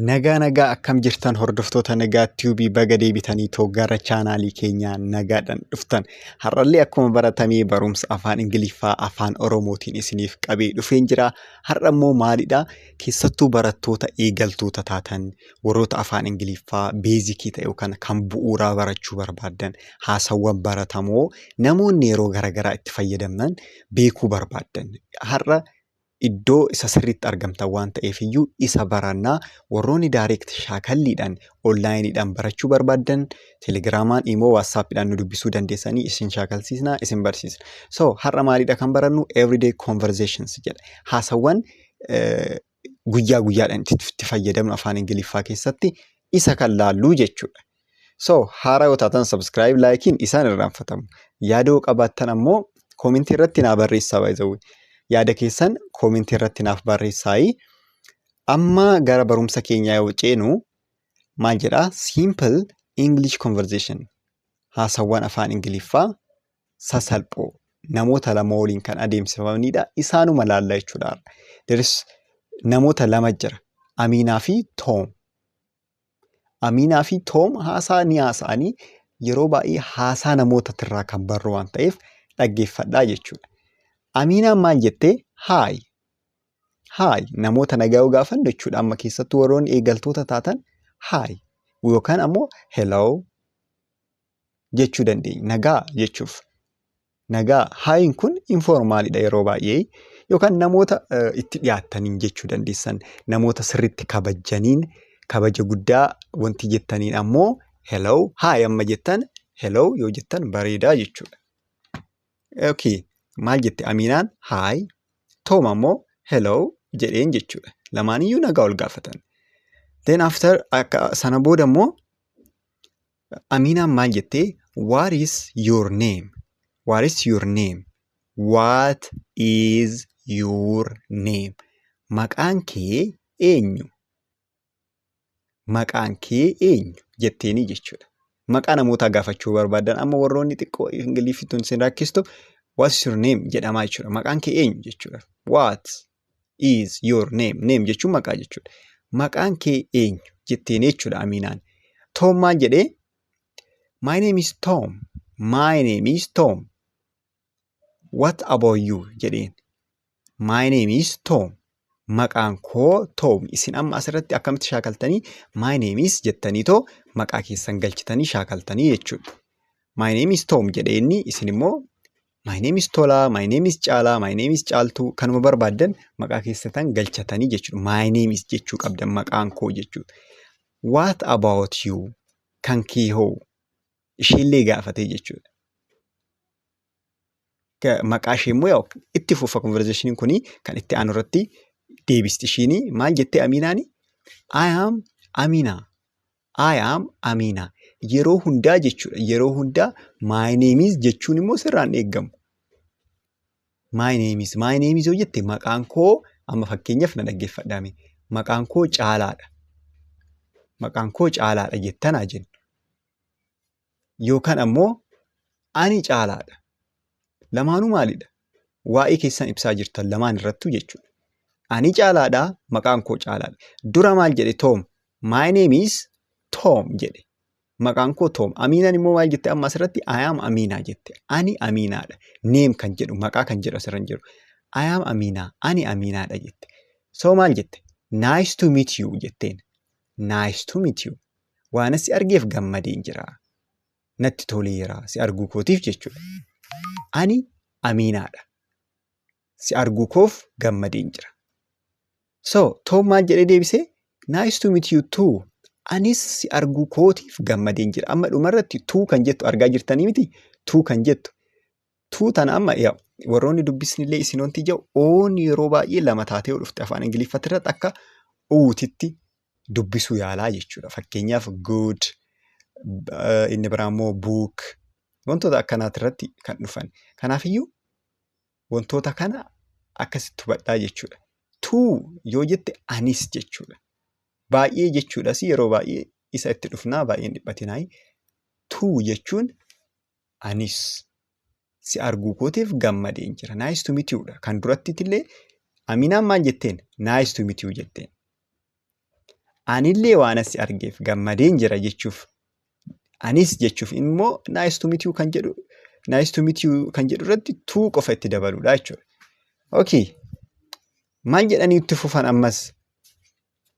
Nagaa nagaa akkam jirtan hordoftoota nagaa tiyuubii baga deebitanii too gara chaanaalii keenyaa nagaadhaan dhuftan. Har'allee akkuma baratamee barumsa afaan Ingiliffaa afaan Oromootiin isiniif qabee dhufeen jira. Har'a immoo maalidha? Keessattuu barattoota eegaltoota taatan warroota afaan Ingiliffaa beezikii ta'e yookaan kan bu'uuraa barachuu barbaaddan haasawwan baratamoo namoonni yeroo garaagaraa itti fayyadamnan beekuu barbaaddan. Har'a iddoo isa sirriitti argamtan waan ta'eef iyyuu isa baranna. Warroonni direct shaakalliidhaan online dhaan barachuu barbaaddan telegiraamaan, imoo, whatsapp dhaan nu dubbisuu dandeessanii isin shaakalsiisna, isin barsiisna. So har'a maaliidha kan barannu everyday conversations jedha. Haasawwan eh, guyyaa guyyaadhaan itti itti fayyadamnu afaan Ingiliffaa keessatti isa kan laallu jechuudha. So haaraa yoo taatan subscribe laayikiin isaan irraanfatamu. Yaada yoo qabaattan ammoo koomentii irratti naa barreessaa baay'ee yaada keessan koomentii irratti naaf barreessaayi. Amma gara barumsa keenyaa yoo ceenu maal jedhaa simple English conversation haasawwan afaan Ingiliffaa sasalphoo namoota lama waliin kan adeemsifamanidha. Isaanuma laalla jechuudha. Deris namoota lama jira. Amiinaa fi Toom. Amiinaa fi Toom haasaa ni haasa'anii yeroo baay'ee haasaa namoota tirraa kan barru waan ta'eef dhaggeeffadhaa jechuudha. Amiinaan maal jettee? Haay. Haay namoota nagaa yoo gaafannu jechuudha amma keessattuu warroonni eegaltoota taatan haay yookaan ammoo hello jechuu dandeenya. Nagaa jechuuf. Nagaa haayiin kun informaalidha yeroo baay'ee yookaan namoota itti dhiyaattaniin jechuu dandeessan namoota sirriitti kabajjaniin kabaja guddaa wanti jettaniin ammoo hello haay amma jettan hello yoo jettan bareedaa jechuudha. Okay. Maal jette Amiinaan haay Toom ammoo hello jedheen jechuudha. Lamaaniyyuu nagaa ol gaafatan. Then after akka sana booda immoo Amiinaan maal jette? What is your name? What is your name? What is your name? Maqaan kee eenyu? Maqaan kee eenyu? jetteenii jechuudha. Maqaa namootaa gaafachuu barbaadan amma warroonni xiqqoo ingiliffittuun isin rakkistu what is your name jedhamaa jechuudha. Maqaan kee eenyu jechuudha. What is your name name jechuun maqaa jechuudha maqaan kee eenyu jetteen jechuudha amiinaan toom maal jedhee my name is toom my name is toom what about you jedheen my name is toom maqaan koo toom isin amma asirratti akkamitti shaakaltanii my name is jettanii too maqaa keessan galchitanii shaakaltanii jechuudha my name is toom jedhee inni isin immoo My name is Tolaa, my name is Caalaa, my name is Caaltuu kanuma barbaaddan maqaa keessatan galchatanii jechuudha. My name is jechuu qabdan maqaan koo jechuudha. What about you? Kan kee hoo? Isheellee gaafatee jechuudha. Ka- Maqaa ishee immoo yaa'u itti fufa konverzeeshiniin kun kan itti aanu irratti deebisti. Ishiin maal jettee Amiinaani? I am Amina. I am Amina. Yeroo hundaa jechuudha. Yeroo hundaa my name is jechuun immoo sirraan eegamu. My name is. My name is yoo jette maqaan koo amma fakkeenyaaf na dhaggeeffadhaame. Maqaan koo caalaadha. Maqaan koo caalaadha jettanaa jenna. yookaan ammoo ani caalaadha. Lamaanuu maalidha? Waa'ee keessan ibsaa jirtan lamaan irrattuu jechuudha. Ani caalaadha, maqaan koo caalaadha. Dura maal jedhe Toom? My name is Tom jedhe. Maqaan koo Toom. Amiinaan immoo maal jette amma asirratti? I am Amiinaa jette. Ani Amiinaadha. Neem kan jedhu, maqaa kan jedhu asirra hin jiru. I am Amiinaa, ani Amiinaadha jette. So maal jette? Nice to meet you jetteen. Nice to meet you. Waanan si argeef gammadeen jira. Natti toleera si arguu kootiif jechuudha. Ani Amiinaadha. Si arguu koof gammadeen jira. So, Toom maal jedhee deebise? Nice to meet you too. Anis si arguu kootiif gammadeen jira. Amma dhumarratti tuu kan jettu argaa jirtanii miti? Tuu kan jettu Tuu tana amma yaa warroonni dubbisnillee isin wanti ja'u oon yeroo baay'ee lama taatee yoo dhufte afaan ingiliffatti irratti akka uutitti dubbisuu yaalaa jechuudha. Fakkeenyaaf good eh, inni biraa immoo book wantoota akkanaati irratti kan dhufan. Kanaafiyyuu wantoota kana akkasitti hubadhaa jechuudha. Tuu yoo jette anis jechuudha. Baay'ee jechuudhas yeroo baay'ee isa itti dhufnaa baay'een dhiphatinaayi. Tuu jechuun Anis si arguu kootiif gammadeen jira. Nice to meet you dha. Kan durattitillee Aminaan maal jetteen? Nice to meet you jetteen. Anillee waan asi argeef gammadeen jira jechuuf anis jechuuf immoo nice to meet you kan jedhu nice to meet you kan jedhu irratti tuu qofa itti dabaluudha jechuudha. Okay. Maal jedhanii itti fufan ammas?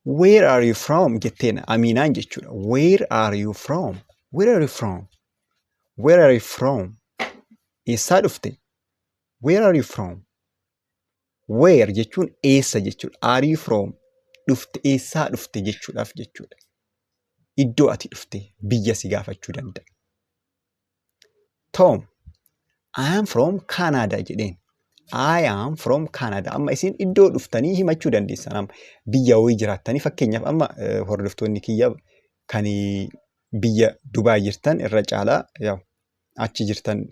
Where are you from jetteen Amiinaan jechuudha. Where are you from? Where are you from? Where are you from? Eessaa dhufte? Where are you from? Where jechuun eessa jechuudha. Are you from? Dhufte eessaa dhufte jechuudhaaf jechuudha. Iddoo ati dhufte biyya si gaafachuu danda'a. Tom, I am from Canada jedheen. I am from Canada. Amma isin iddoo dhuftanii himachuu dandeessan. Amma biyya wayii jiraattanii fakkeenyaaf amma eh, hordoftoonni kiyya kan biyya Dubaay jirtan irra caalaa yaw, achi jirtan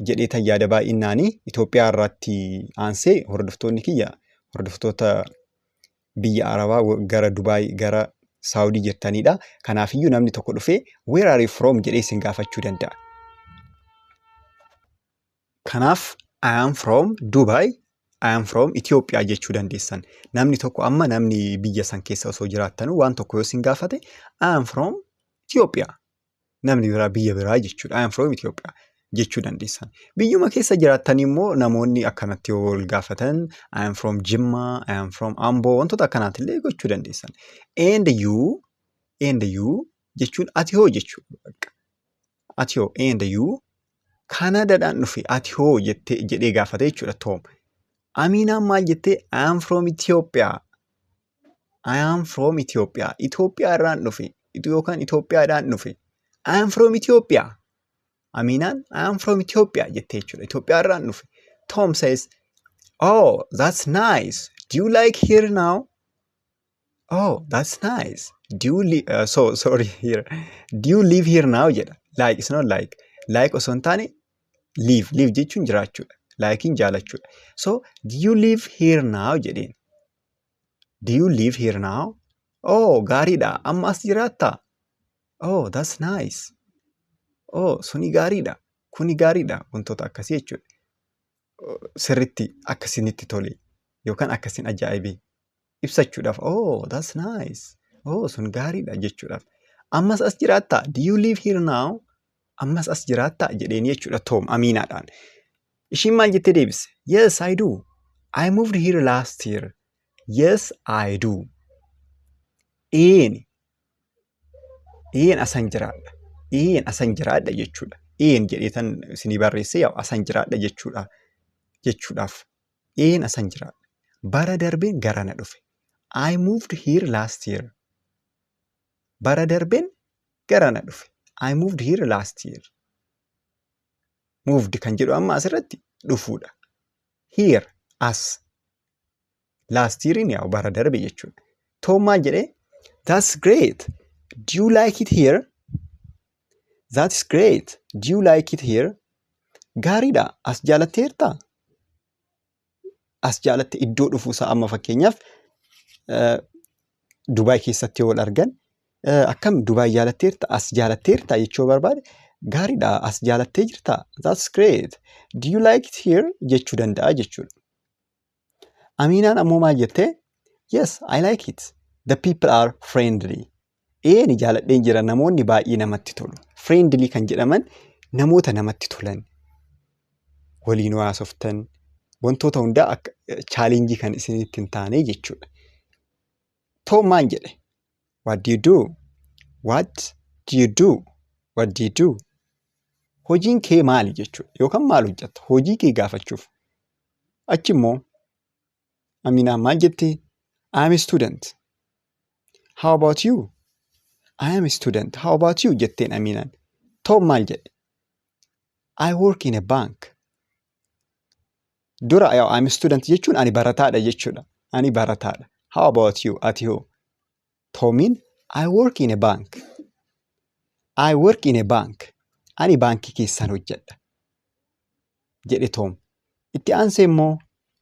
jedhee tan yaada baay'innaanii Itoophiyaa irratti aansee hordoftoonni kiyya hordoftoota biyya Arabaa gara Dubaay gara Saawudii jirtanidha. Kanaafiyyuu namni tokko dhufee where are you from jedhee isin gaafachuu danda'a. Kanaaf I am from Dubai, I am from Ethiopia jechuu dandeessan. Namni tokko amma namni biyya san keessa osoo jiraattanu waan tokko yoo isin gaafate I am from Ethiopia namni biraa biyya biraa jechuudha. I am from Ethiopia jechuu dandeessan. Biyyuma keessa jiraattan immoo namoonni akkanatti yoo wal gaafatan I am from Jimma, I am from Ambo wantoota akkanaati illee gochuu dandeessan. And you, and you jechuun ati hoo jechuudha. Bakka. Ati hoo, and you Kanaadaadhaan dhufe ati hoo jettee jedhee gaafate jechuudha Toom. Amiinaan maal jettee I am from Ethiopia. I am from Ethiopia. Itoophiyaa irraan dhufe. Yookaan Itoophiyaadhaan dhufe. I am from Ethiopia. Aminaan I am from Ethiopia jette jechuudha. Itoophiyaa irraan dhufe. Tom says, Oh, that's nice. Do you like here now? Oh, that's nice. Do you li- uh, so sorry here. Do you live here now jedha. Like is not like. Like osoo hin taane live. Live jechuun jiraachuudha. Likein jaalachuudha. So do you live here now jedheen. Do you live here now? Oh, gaariidha. Amma as jiraatta? Oh, that's nice. Oh, suni gaariidha. Kuni gaariidha. Wantoota akkasii jechuudha. Oh, Sirritti akkasinitti tole yookaan akkasin ajaa'ibe ibsachuudhaaf. Oh, that's nice. Oh, sun gaariidha jechuudhaaf. Ammas as jiraatta? Do you live here now? Ammas as jiraattaa? jedheen jechuudha Toom amiinaadhaan. Ishiin maal jettee deebise? Yes, I do. I moved here last year. Yes, I do. Eeni. Een asan jiraadha. Een asan jiraadha jechuudha. Een jedhee tan isinii barreessee yaa'u asan jiraadha jechuudha. Jechuudhaaf. Een asan jiraadha. Bara darbeen gara na dhufe. I moved here last year. Bara darbeen gara na dhufe. I moved here last year. Moved kan jedhu amma asirratti dhufuudha. Here as last year in yaa'u bara darbe jechuudha. Toom maal jedhee? That's great. Do you like it here? That's great. Do you like it here? Gaariidha. As jaalatteertaa? as jaalatti iddoo dhufuusaa amma fakkeenyaaf Dubaay keessatti yoo wal argan akkam Dubaay jaalatteerta as jaalatteerta jechuu barbaade gaariidha as jaalattee jirta that's great do you like it here jechuu danda'a jechuudha. Amiinaan ammoo maal jettee yes I like it the people are friendly Ee ni jaaladheen jira namoonni baay'ee namatti tolu. Friendly kan jedhaman namoota namatti tolan waliin haasoftan wantoota hundaa akka chaalenjii kan isinitti hin taane jechuudha. Toom maan jedhe? What do you do? What do you do? What do you do? Hojiin kee maali jechuudha yookaan maal hojjetta? Hojii kee gaafachuuf. Achi immoo Aminaa maal jettee? I am a student. How about you? I am a student. How about you? jetteen Aminaan. Tom maal jedhe? I work in a bank. Dura I am a student jechuun ani barataadha jechuudha. Ani barataadha. How about you? Ati hoo? Toomiin I work in a bank. I work in a bank. Ani baankii keessaan hojjedha. Jedhe Toom. Itti aansee immoo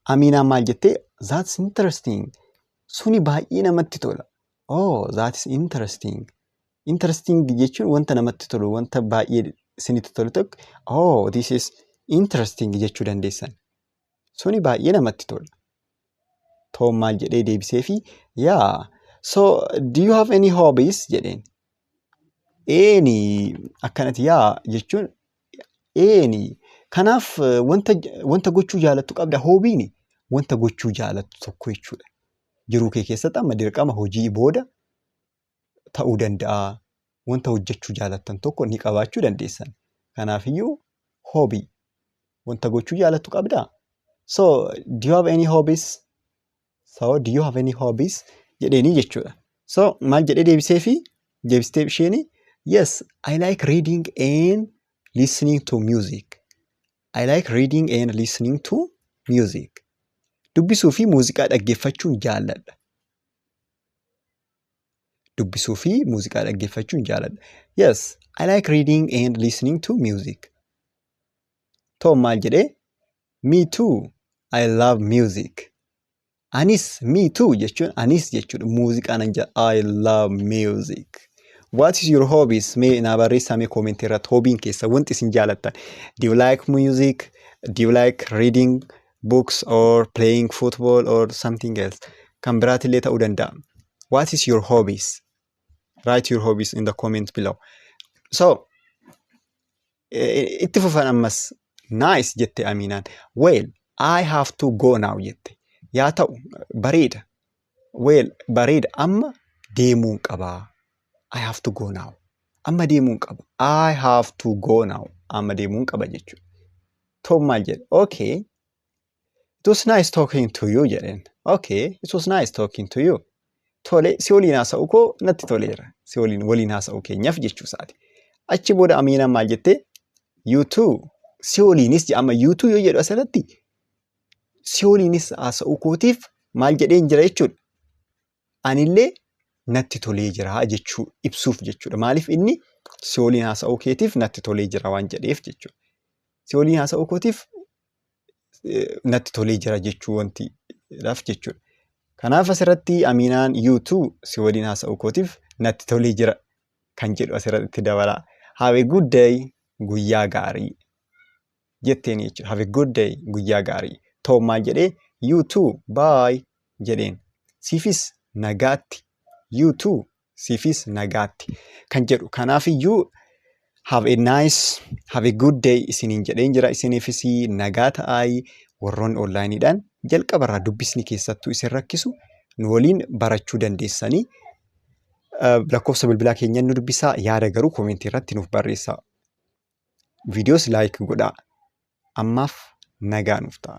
Amiinaan maal jettee? That's interesting. Suni baay'ee namatti tola. Oh, that's interesting. Interesting jechuun wanta namatti tolu, wanta baay'ee isinitti tolu tokko. Oh, this is interesting jechuu dandeessan. Suni baay'ee namatti tola. Toom maal jedhee deebiseefi yaa so do you have any hobbies jedheen. Eeni akkanati yaa jechuun eeni kanaaf eh, wanta wanta gochuu jaalattu qabda hoobiini wanta gochuu jaalattu tokko jechuudha. Jiruu kee keessatti amma dirqama hojii booda ta'uu danda'a. Wanta hojjechuu jaalattan tokko ni qabaachuu dandeessan. Kanaafiyyuu hobby wanta gochuu jaalattu qabdaa? So, do you have any hobbies? So, do you have any hobbies? jedheenii jechuudha. So, maal jedhee deebiseefi? Deebistee isheeni yes, I like reading and listening to music. I like reading and listening to music. Dubbisuu fi muuziqaa dhaggeeffachuun jaalladha. Dubbisuu fi muuziqaa dhaggeeffachuun jaaladha. Yes, I like reading and listening to music. Toom maal jedhee? Me too, I love music. Anis me too jechuun anis jechuudha. Muuziqaa nan jaalladha. I love music. What is your hobbies? Mee naa barreessaa mee koomentii irratti hoobiin keessa wanti isin jaalattan. Do you like music? Do you like reading? books or playing football or something else kan biraatillee ta'uu danda'a. What is your hobbies? Write your hobbies in the comment below. So, eh, itti fufan ammas nice jette Aminaan. Well, I have to go now jette. Yaa ta'u bareeda. Well bareeda amma deemuun qaba. I have to go now. Amma deemuun qaba. I have to go now. Amma deemuun qaba jechuudha. Tom maal jedhe? Okay. It was nice talking to you jedheen. Okay. It was nice talking to you. Tole si waliin haasa'u koo natti toleera. Si waliin waliin haasa'u keenyaaf jechuu isaati. Achi booda Amiinaan maal jette? You too. Si waliinis jedha. Amma you too yoo jedhu asirratti si waliinis haasa'uu kootiif maal jedheen jira jechuudha. Anillee natti tolee jira jechuu ibsuuf jechuudha. Maaliif inni si waliin haasa'uu keetiif natti tolee jira waan jedheef jechuudha. Si waliin haasa'uu kootiif natti tolee jira jechuu wanti dhaaf jechuudha. Kanaaf asirratti Amiinaan YouTube si waliin haasa'uu kootiif natti tolee jira kan jedhu asirratti itti dabala. Have a good day guyyaa gaarii. jetteen jechuudha. Have a good day guyyaa gaarii. Toom maal jedhee you too bye jedheen. Siifis nagaatti you too siifis nagaatti kan jedhu. Kanaaf iyyuu have a nice have a good day isiniin jedheen jira isiniifis nagaa ta'aayi warroonni onlaayiniidhaan jalqaba irraa dubbisni keessattuu isin rakkisu nu waliin barachuu dandeessanii lakkoofsa bilbilaa keenyan nu dubbisaa yaada garuu koomentii irratti nuuf barreessaa. Videos like godhaa. Ammaaf nagaa nuuf ta'a.